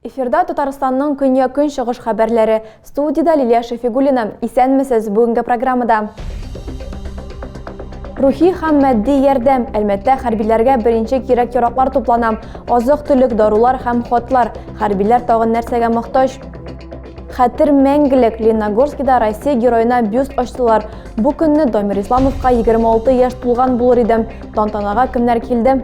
Эфирда Татарстанның көнья көнчыгыш хәбәрләре. Студиядә Лилия Шәфигуллина. Исәнмесез бүгенге программада. Рухи һәм матди ярдәм Әлмәттә хәрбиләргә беренче кирәк-яраклар туплана. Азык-төлек, дарулар һәм хатлар. Хәрбиләр тагын нәрсәгә мохтаҗ? Хәтер мәңгелек Леногорскида Россия героена бюст ачтылар. Бу көнне Домир Исламовка 26 яшь тулган булыр иде. Тантанага кемнәр килде?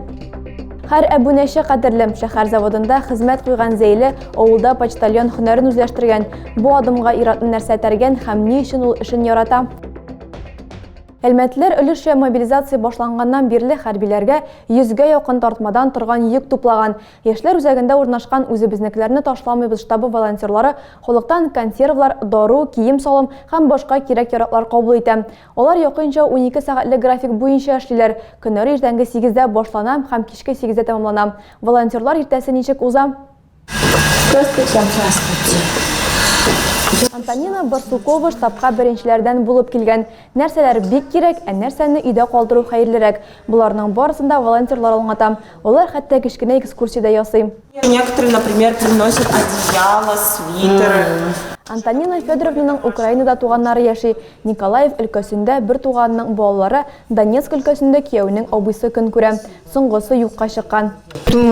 Хәр әбүнәче кадерле шәһәр заводында хезмәт куйган Зәйле авылда почтальон һөнәрен үзләштергән. Бу адымга иратны нәрсә тәргән һәм ни өчен ул эшен ярата? Әлмәтләр өлеше мобилизация башланганнан бирле хәрбиләргә йөзгә якын тартмадан торган йөк туплаган. Яшьләр үзәгендә урнашкан Үзебезнекеләрне ташламыйбыз штабы волонтерлары халыктан консервлар, дару, кием-салым һәм башка кирәк-яраклар кабул итә. Алар якынча унике сәгатьлек график буенча эшлиләр, көннәре иртәнге сигездә башлана һәм кичке сигездә тәмамлана. Волонтерлар иртәсе ничек уза? Здравствуйте! Здравствуйте! Антонина Барсукова штабка беренчеләрдән булып килгән. Нәрсәләр бик кирәк, ә нәрсәне өйдә калдыру хәерлерәк? Боларның барысын да волонтерлар аңлата. Алар хәтта кечкенә экскурсия дә ясый. Некоторые, например, приносят одеяло, свитер. Антонина Федоровнаның Украинада туганнары яши. Николаев өлкәсендә бер туганының балалары, Донецк өлкәсендә кияүнең абыйсы көн күрә. Соңгысы юкка чыккан. Ул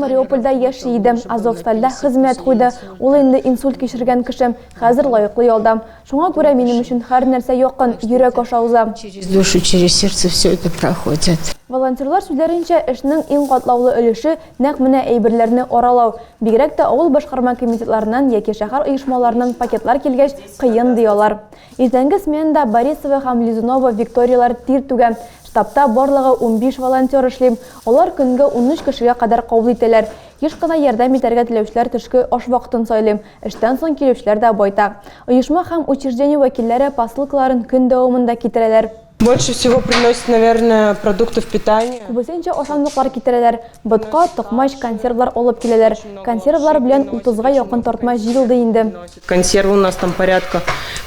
Мариупольдә яши иде, Азовстальдә хезмәт куйды. Ул инде инсульт кичергән кеше. Хәзер лаеклы ялдам. Шуңа күрә минем өчен хәр нәрсә якын, йөрәк аша уза. Через душу, через сердце все это проходит. Волонтерлар сүзләренчә, эшнең иң катлаулы өлеше, нәкъ менә әйберләрне аралау. Бигрәк тә авыл башкарма комитетларыннан яки шәһәр оешмаларыннан пакетлар килгәч, кыен, ди алар. Иртәнге сменада Борисова һәм Лизунова Викторияләр тир түгә. Штабта барлыгы унбиш волонтер эшли. Алар көнгә унөч кешегә кадәр кабул итәләр. Еш кына ярдәм итәргә теләүчеләр төшке аш вакытын сайлый. Эштән соң килүчеләр дә байтак. Оешма һәм учреждение вәкилләре посылкаларын көн дәвамында китерәләр. Больше всего приносят, наверное, продуктов питания. Күбесенчә ашамлыклар китерәләр. Ботка, токмач, консервлар алып киләләр. Консервлар белән утызга якын тартма җыелды инде. Консервы у нас там порядка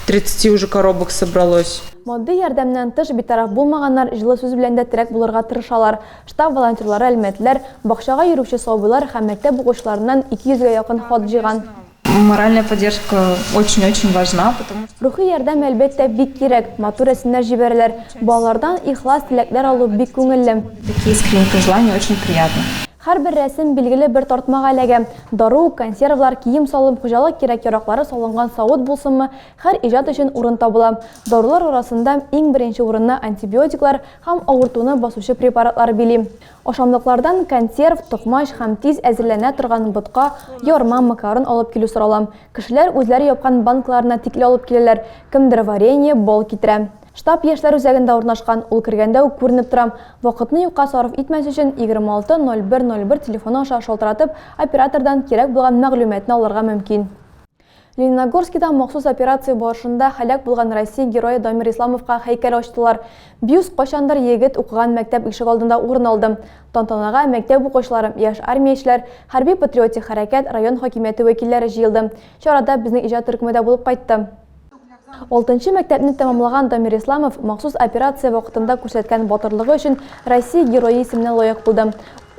тридцати уже коробок собралось. Матди ярдәмнән тыш битараф булмаганнар җылы сүз белән дә терәк булырга тырышалар. Штаб волонтерлары әлмәтләр, бакчага йөрүче сабыйлар һәм мәктәп укучыларыннан 200 гә якын хат җыйган. Моральная поддержка очень-очень важна, потому что. Рухи ярдәм, әлбәттә, бик кирәк. Матур рәсемнәр җибәрәләр. Балалардан ихлас теләкләр алу бик күңелле. Такие искренние пожелания очень приятны. Һәрбер рәсем билгеле бер тартмага эләгә. Дару, консервалар, кием-салым, хуҗалык кирәк-яраклары салынган савыт булсынмы, һәр иҗат өчен урын табыла. Дарулар арасында иң беренче урынны антибиотиклар, һәм авыртуны басучы препаратлар били. Ашамлыклардан консерв, токмач һәм тиз әзерләнә торган ботка, ярма, макарон алып килү сорала. Кешеләр үзләре япкан банкаларына тикле алып киләләр, кемдер варенье, бал китерә. Штаб яшьләр үзәгендә урнашкан, ул кергәндә үк күренеп тора. Вакытны юкка сарыф итмәс өчен, 260101 телефоны аша шалтыратып, оператордан кирәк булган мәгълүматны алырга мөмкин. Лениногорскида махсус операция барышында һәлак булган Россия герое Дамир Исламовка һәйкәл ачтылар. Бюст кайчандыр егет укыган мәктәп ишегалдында урын алды. Тантанага мәктәп укучылары, яшь армиячеләр, хәрби-патриотик хәрәкәт, район хакимияте вәкилләре җыелды. Чарада безнең иҗат төркеме дә булып кайтты. Алтынчы мәктәпне тәмамлаган Дамир Исламов махсус операция вакытында күрсәткән батырлыгы өчен Россия Герое исеменә лаек булды.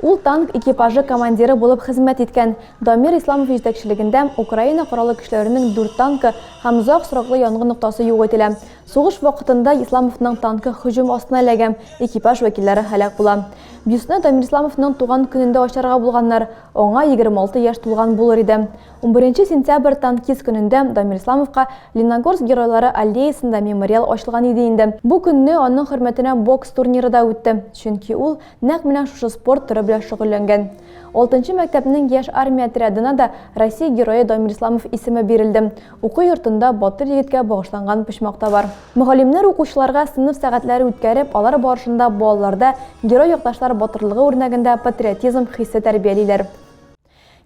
Ул танк экипажы командиры булып хезмәт иткән. Дамир Исламов җитәкчелегендә Украина Кораллы көчләренең дүрт танкы һәм озак сроклы янгын ноктасы юк ителә. Сугыш вакытында Исламовның танкы һөҗүм астына эләгә, экипаж вәкилләре һәлак була. Бюстны Дамир Исламовның туган көнендә ачарга булганнар, аңа 26 яшь тулган булыр иде. Унберенче сентябрь танкист көнендә Дамир Исламовка Леногорск геройлары аллеясында мемориал ачылган иде инде. Бу көнне аның хөрмәтенә бокс турниры да үтте, чөнки ул нәкъ менә шушы спорт төры белән шөгыльләнгән. Алтынчы мәктәпнең яшь армия отрядына да Россия Герое Дамир Исламов исеме бирелде. Уку йортында батыр егеткә багышланган почмак та бар. Мөгаллимнәр укучыларга сыйныф сәгатьләре үткәреп, алар барышында балаларда герой якташлар батырлыгы үрнәгендә патриотизм хисе тәрбиялиләр.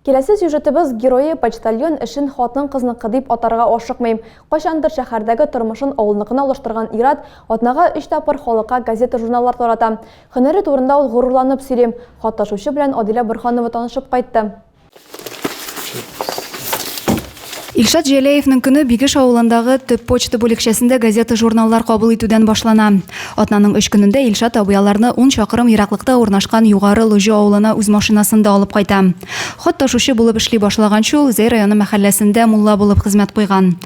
Киләсе сюжетыбыз герое почтальон эшен хатын-кызныкы дип атарга ашыкмыйм. Кайчандыр шәһәрдәге тормышын авылныкына алыштырган ир-ат атнага өч тапкыр халыкка газета-журналлар тарата. Һөнәре турында ул горурланып сөйли. Хат-ташучы белән Адилә Борһанова танышып кайтты. Илшат Җәләевның көне Бигеш авылындагы төп почта бүлекчәсендә газета-журналлар кабул итүдән башлана. Атнаның өч көнендә Илшат абый аларны ун чакрым ераклыкта урнашкан Югары Лоҗо авылына үз машинасында алып кайта. Хат ташучы булып эшли башлаганчы ул Зәй районы мәхәлләсендә мулла булып хезмәт куйган.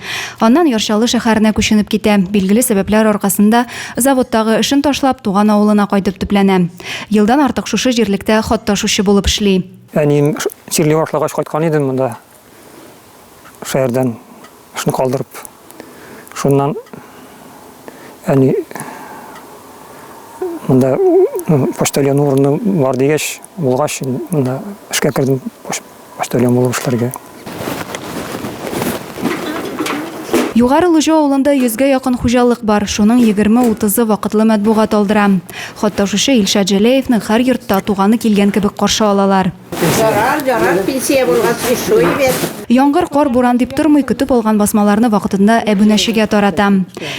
Аннан Яр Чаллы шәһәренә күченеп китә, билгеле сәбәпләр аркасында заводтагы эшен ташлап, туган авылына кайтып төпләнә. Елдан артык шушы җирлектә хат ташучы булып эшли. Әнием җирле вакытлагач кайткан идем монда. шәһәрдән эшне калдырып, шуннан әни монда почтальон урыны бар дигәч, булгач, монда эшкә кердем почтальон булып эшләргә. Югары Лужо авылында йөзгә якын хуҗалык бар, шуның 20-30-ы вакытлы матбугат алдыра. Хатта шушы Илшат Җәләевны һәр йортта туганы килгән кебек каршы алалар. Ярар, ярар, пенсия булгач, ишуй бит. Яңгыр, кар, буран дип тормый, көтеп алган басмаларны вакытында әбүнәчегә тарата.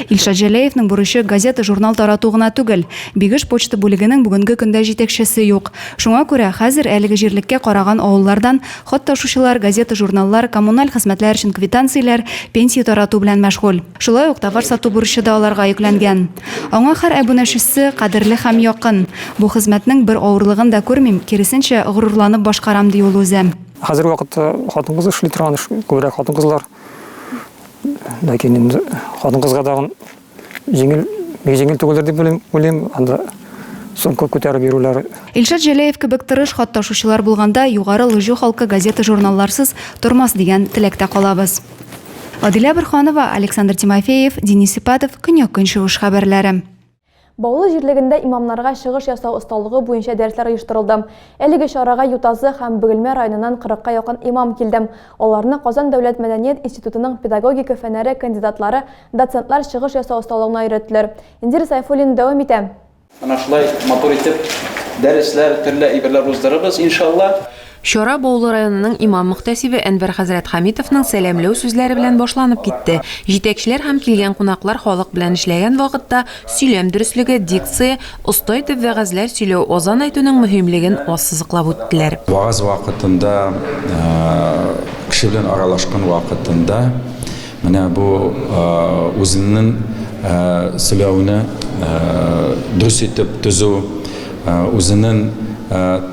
Илшат Җәләевның бурычы газета-журнал тарату гына түгел. Бигеш почта бүлегенең бүгенге көндә җитәкчесе юк. Шуңа күрә хәзер әлеге җирлеккә караган авыллардан хат ташучылар газета-журналлар, коммуналь хезмәтләр өчен квитанцияләр, пенсия тарату белән мәшгуль. Шулай ук товар сату бурычы да аларга йөкләнгән. Аңа хәр әбүнәчесе кадерле һәм якын. Бу хезмәтнең бер авырлыгын да күрмим, киресенчә, горурланып башкарам, ди ул үзе. Хәзерге вакытта хатын-кыз эшли торган эш, күбрәк хатын-кызлар. Ләкин инде хатын-кызга тагын җиңел, бик җиңел түгелдер дип уйлыйм, уйлыйм, анда сумка күтәреп йөрүләре. Илшат Җәләев кебек тырыш хат ташучылар булганда, югары лыжу халкы газета-журналларсыз тормас дигән теләктә калабыз. Адилә Борханова, Александр Тимофеев, Денис Сипатов, Көньяк-Көнчыгыш хәбәрләре. Баулы җирлегендә имамнарга чыгыш ясау осталыгы буенча дәресләр оештырылды. Әлеге чарага Ютазы һәм Бөгелмә районыннан 40 ка якын имам килде. Аларны Казан дәүләт мәдәният институтының педагогика фәннәре кандидатлары, доцентлар чыгыш ясау осталыгына өйрәттеләр. Индира Сайфуллина дәвам итә. Менә шулай матур итеп дәресләр, төрле әйберләр уздырырбыз, иншалла. Чара Баулы районының имам-мөхтәсибе Әнвәр хәзрәт Хәмитовның сәламләү сүзләре белән башланып китте. Җитәкчеләр һәм килгән кунаклар халык белән эшләгән вакытта сөйләм дөреслеге, дикция, оста итеп вәгазьләр сөйләү, азан әйтүнең мөһимлеген ассызыклап үттеләр. Вагаз вакытында, кеше белән аралашкан вакытында, Менә бу үзеңнең сөйләүне дөрес итеп төзү, үзенең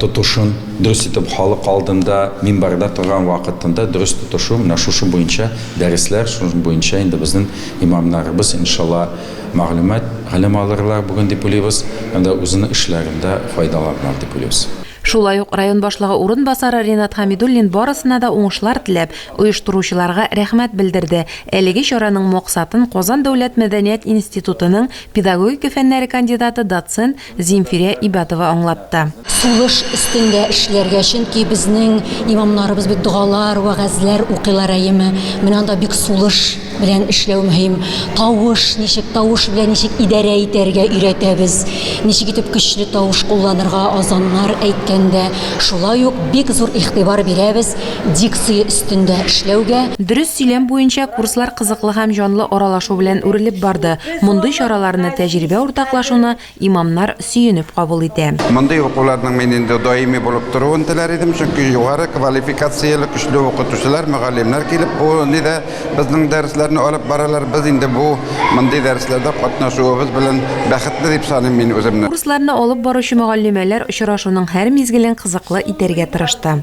тотышын дөрес итеп халык алдында, минбәрдә торган вакытында дөрес тотышу, менә шушы буенча дәресләр, шуның буенча инде безнең имамнарыбыз, иншалла, мәгълүмат, гыйлем алырлар бүген дип уйлыйбыз һәм дә үзенең эшләрендә файдаланыр дип уйлыйбыз. Шулай ук район башлыгы урынбасары Ринат Хәмидуллин барысына да уңышлар теләп, оештыручыларга рәхмәт белдерде, әлеге чараның максатын Казан дәүләт мәдәният институтының педагогика фәннәре кандидаты, доцент Зимфирә Ибатова аңлатты. Сулыш өстендә эшләргә, чөнки безнең имамнарыбыз бит догалар, вәгазьләр укыйлар, әйеме? Менә анда бик сулыш. белән эшләү мөһим. Тавыш, ничек тавыш белән ничек идарә итәргә өйрәтәбез. Ничек итеп көчле тавыш кулланырга азаннар әйткәндә. Шулай ук бик зур игътибар бирәбез дикция өстендә эшләүгә. Дөрес сөйләм буенча курслар кызыклы һәм җанлы аралашу белән үрелеп барды. Мондый чараларны, тәҗрибә уртаклашуны Имамнар сөенеп кабул итә. Мондый укуларның мин инде даими булып торуын теләр идем, чөнки югары квалификацияле көчле укытучылар, мөгаллимнәр килеп бу нидә безнең дәресләрне алып баралар. Без инде бу мондый дәресләрдә катнашуыбыз белән бәхетле дип саныйм мин үземне. Курсларны алып баручы мөгаллимәләр очрашуның һәр мизгелен кызыклы итәргә тырышты.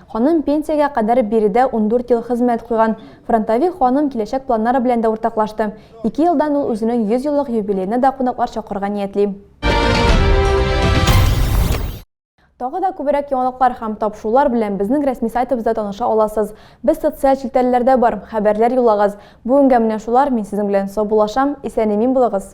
Ханым пенсиягә кадәр биредә ундүрт ел хезмәт куйган. Фронтовик ханым киләчәк планнары белән дә уртаклашты. Ике елдан ул үзенең 100 еллык юбилеена да кунаклар чакырырга ниятли. Тагы да күбрәк яңалыклар һәм тапшырулар белән безнең рәсми сайтыбызда таныша аласыз. Без социаль челтәрләрдә бар, хәбәрләр юллагыз. Бүгенгә менә шулар, мин сезнең белән саубуллашам, исән-имин булыгыз!